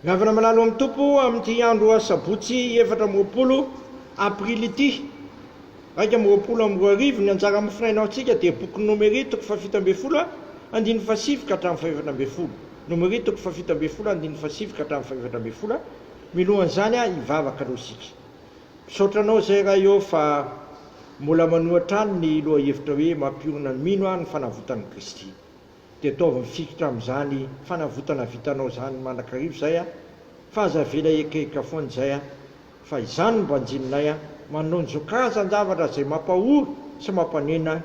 Mihavana manalo amin'ny Tompo amin'ity andro Asabotsy efatra amby roapolo Aprily ity iraika amby roapolo amby roa arivo ny anjara amin'ny finainaontsika dia boky Nomery toko fahafito ambin'ny folo andininy fahasivy ka hatramin'ny fahefatra ambin'ny folo Nomery toko fahafito ambin'ny folo andininy fahasivy ka hatramin'ny fahefatra ambin'ny folo Milohan'izany hivavaka aloha isika Misaotra anao izay Ray ô fa mbola manoa hatrany ny lohahevitra hoe mampiorina ny mino aho ny fanavotan'i Kristy. De ataovy mifikitra amin'izany fanavotana vitanao izany mandrakariva izay a! Fa aza avela ekaeka foana izay a! Fa izany no banjininay a! Manonjo karazan-javatra izay mampahory sy mampanena,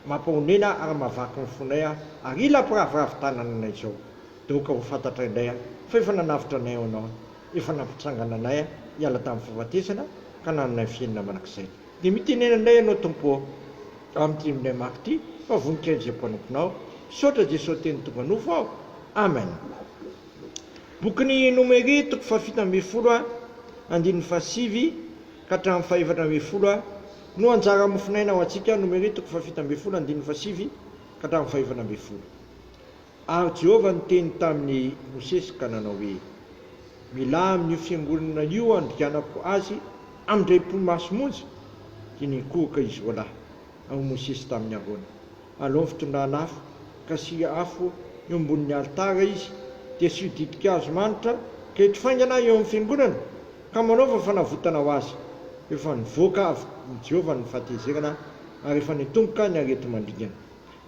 mampahonena ary mahavaky ny fonay a! Ary ila mpiraviravy tanana anay izao! De aoka ho fantatray indray a! Fa efa nanavotra anay ianao a! Efa nampitsangana anay a! Hiala tamin'ny fahafatesana ka nanana ny fiainana mandrakizay. Dia mitenena indray ianao Tompo ô, amin'ity indray mafy ity fa voninkazo izay mpanomponao. Misaotra Jeso Teny tonga nofo aho. Amen. Bokin'i Nomery toko fahafito ambin'ny folo a, andininy fahasivy ka hatramin'ny fahefatra ambin'ny folo a, no anjara mofon'aina ho antsika, Nomery toko fahafito ambin'ny folo andininy fahasivy ka hatramin'ny fahefatra ambin'ny folo. Ary Jehovah niteny tamin'i Mosesy ka nanao hoe, Milà amin'io fiangonana io andrianako azy amin-draim-po maso monja. Dia nikohoka izy roa lahy, ao Mosesy tamin'i Arona, alohan'ny fitondran'afo, ka asiana afo eo ambonin'ny alitara izy, dia asio ditin-kazo manitra ka eto faingana eo amin'ny fiangonana, ka manaova fanavotana ho azy. Efa nivoaka avy amin'i Jehovah ny fahatezerana, ary efa nitomboka ny areti-mandringana.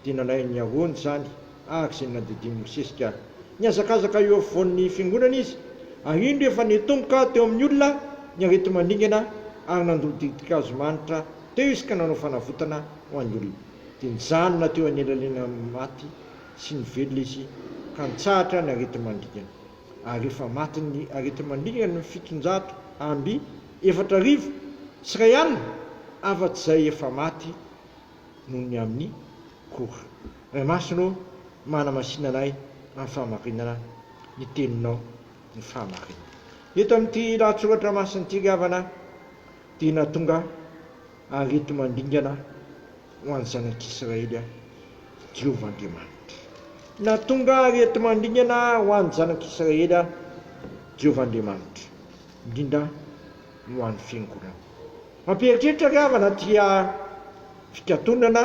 Dia nalain'i Ahaona izany araka izay nandidian'i Mosesy ka nihazakazaka eo afovoan'ny fiangonana izy, ary indro efa nitomboka teo amin'ny olona ny areti-mandringana, ary nandoa ditin-kazo manitra teo izy ka nanao fanavotana ho an'ny olona. Dia nijanona teo anelanelan'ny maty sy ny velona izy ka nitsahatra ny areti-mandringana. Ary efa matin'ny areti-mandringana ny fitonjato amby efatra arivo sy iray alina, afa-tsy izay efa maty. noho ny amin'ny Koh. Ray Masina ô, manamasina anay amin'ny fahamarinana ny Teninao, ny fahamarinana. Eto amin'ity lahatsoratra masin'ity ry havana dia nahatonga aretimandringana ho an'ny zanak'Israely Jehovah Andriamanitra. Nahatonga aretimandringana ho an'ny zanak'Israely Jehovah Andriamanitra, indrindra ho an'ny Fiangonana. Mampieritreritra ry havana ty fikatonana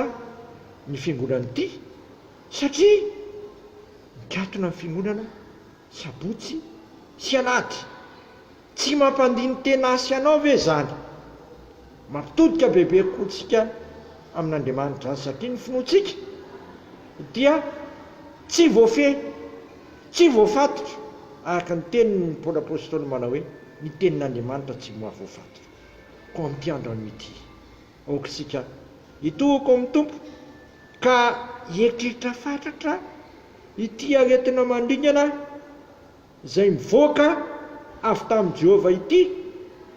ny fiangonana ity satria mikatona ny fiangonana sabotsy sy alahady. Tsy mampandini-tena ahy sy anao ve zany? Mampitodika bebe kokoa tsika amin'Andriamanitra zany satria ny finoantsika dia tsy voafehy. Tsy voafatotra, araka ny teniny ny Paoly Apostoly manao hoe, Ny tenin'Andriamanitra tsy mahavoafatotra. Koa amin'ity andro anio ity, aoka isika hitohoka ao amin'ny Tompo ka hieritreritra fatratra ity aretina mandringana izay mivoaka avy tamin'i Jehovah ity,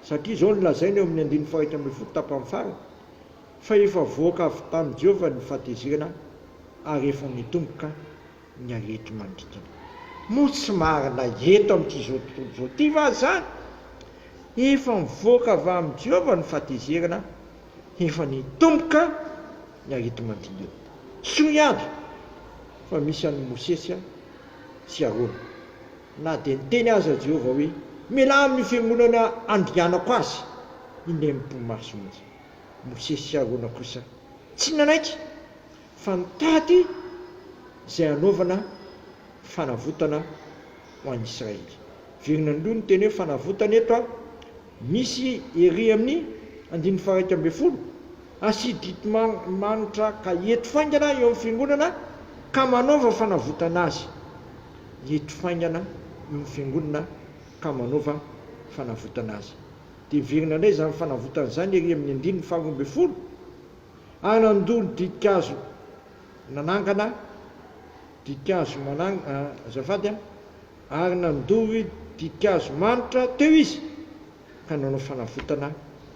satria izao no lazainy eo amin'ny andininy fahairaika ambin'ny folo tapany farany, Fa efa voaka avy tamin'i Jehovah ny fahatezerana, ary efa nitomboka ny aretina manodidina. Moa tsy marina eto amin'ity izao tontolo izao ity va izany? Efa nivoaka avy amin'i Jehovah ny fahatezerana, efa nitomboka ny areti-manodidina. Soa ihany fa misy an'i Mosesy sy Arona. Na dia niteny aza Jehovah hoe, Mialà amin'io fiangonana andringanako azy, indray mipomaso mihitsy. Mosesy sy Arona kosa tsy nanaiky. fa nitady izay hanaovana fanavotana ho an'i Israely. Virina indroa ny teny hoe fanavotana eto, misy ery amin'ny andininy faha-iraika ambin'ny folo, Hasididy manitra ka hiety faingana eo amin'ny Fiangonana ka manaova fanavotana azy. Hiety faingana eo amin'ny Fiangonana ka manaova fanavotana azy. Dia virina indray izany fanavotana izany ery amin'ny andininy faharoa ambin'ny folo. Anandolo Diikazo nanangana Diikazo manangana azafady a! ary nandoro Diikazo manitra teo izy ka nanao fanavotana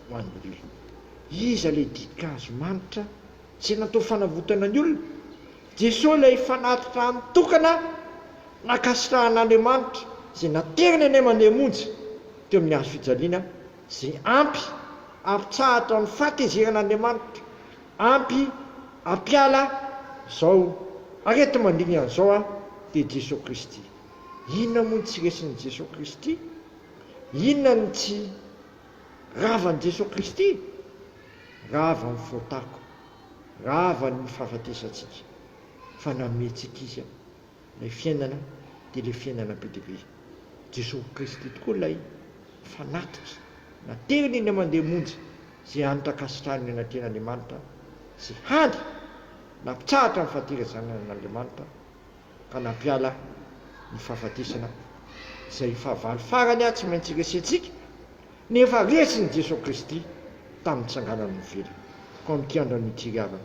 ho an'ny olona. Iza ilay Diikazo manitra izay natao fanavotana ny olona? Jesoa ilay fanatitra any tokana nankasitrahan'Andriamanitra izay nateriny any aman-diamonjy teo amin'ny hazo fijaliana. Ze ampy ampitsahatra amin'ny fahatezeran'Andriamanitra, ampy ampiala zao areti-mandringana zao aho dia Jesoa Kristy. Inona moa no tsy resin'i Jesoa Kristy? Inona no tsy ravan'i Jesoa Kristy? Ravan'ny fotako, ravan'ny fahafatesantsika, fa nametrika Izy aho. Ilay fiainana dia ilay fiainana be dia be. Jesoa Kristy tokoa ilay fanatitra na teny eny aman-dia monja izay hany tankasitrahany ny anatrehan'Andriamanitra sy hany nampitsahatra ny fahatera zanany an'Andriamanitra ka nampiala ny fahafatesana izay fahavalo farany tsy maintsy iresentsika nefa resin'i Jesoa Kristy tamin'ny tsanganany novely. Koa amin'ity andro an'ity ry havana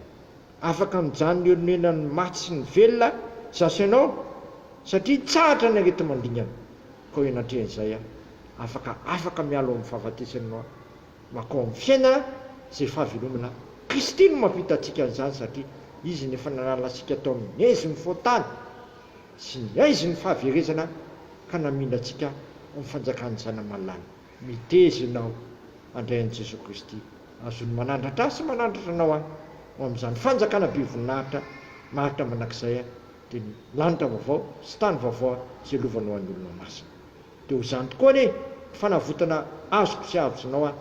Afaka mijanona eo nonenan'ny maty sy ny velona za sy ianao satria tsahatra ny areti-mandingana koa eo natrehan'izay aho afaka afaka miala ao amin'ny fahafatesan'ny noa makao amin'ny fiaina izay fahavelomana Kristy no mampita antsika an'izany satria Izy no efa nanala antsika tao amin'ny haizin'ny fontany sy ny haizin'ny fahaverezana ka namindra antsika amin'ny fanjakan'ny Zanamalala. Mitezona aho handray an'i Jesoa Kristy. Azon'ny manandratra ahy sy manandratra anao ahy ho amin'izany fanjakana be voninahitra maharitra mandrakizay ahy, dia ny lanitra vaovao sy tany vaovao izay lovanao an'ny olona masina. Dia ho izany tokoa anie ny fanavotana azoko sy azonao ahy,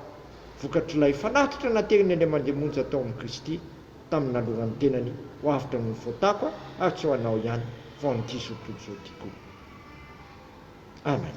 vokatr'ilay fanatitra naterin'ny Andriamandeha monja tao amin'i Kristy tamin'ny nanolorany ny tenany ho avotra noho ny fotako ary tsy ho anao ihany fa ho an'ity zokiolona izao tiako. Amen.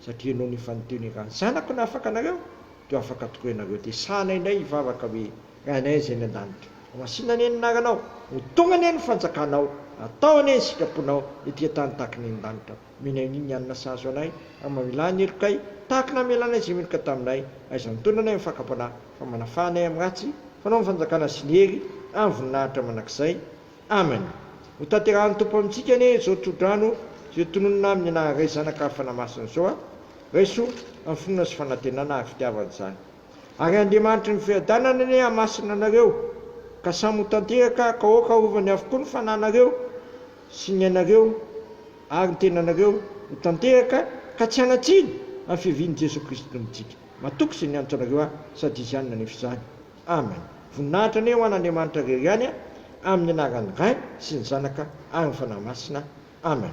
Satria nony efa niteny hoe raha ny Zanako no afaka anareo, dia ho afaka tokoa ianareo. Dia sahana indray hivavaka hoe, Ray anay izay any an-danitra. Ho masina anie ny anaranao. Ho tonga anie ny fanjakanao. Atao anie ny sitraponao, ety an-tany tahaka ny eny an-danitra. Omeny anay ny hanina sahaza ho anay. Ary mamelà ny helokay, tahaka ny namelanay izay meloka taminay. Aiza mitondra anay amin'ny fakam-panahy, fa manafaha anay amin'ny ratsy? Fa anao no fanjakana sy ny hery, amin'ny voninahitra mandrakizay. Amen! Hotanterahan'ny Tompo amintsika anie izao tsodrano izay tononina aminy na Ray Zanaka ary Fanahy Masina izao a! Raiso amin'ny finoana sy fanantenana ary fitiavana izany. Ary Andriamanitry ny Fiadanana anie hamasina anareo ka samy ho tanteraka ka aoka arovany avokoa ny fananareo sy ny ainareo ary ny tenanareo ho tanteraka ka tsy hanatsiny amin'ny fiavian'i Jesoa Kristy Tompontsika. Matoky izay niantso anareo ahy sady izany nanefa izany. Amen voninahitra anie ho an Andriamanitra rery ihany a amin ny anaran ny Ray sy ny Zanaka ary ny Fanahy Masina Amen.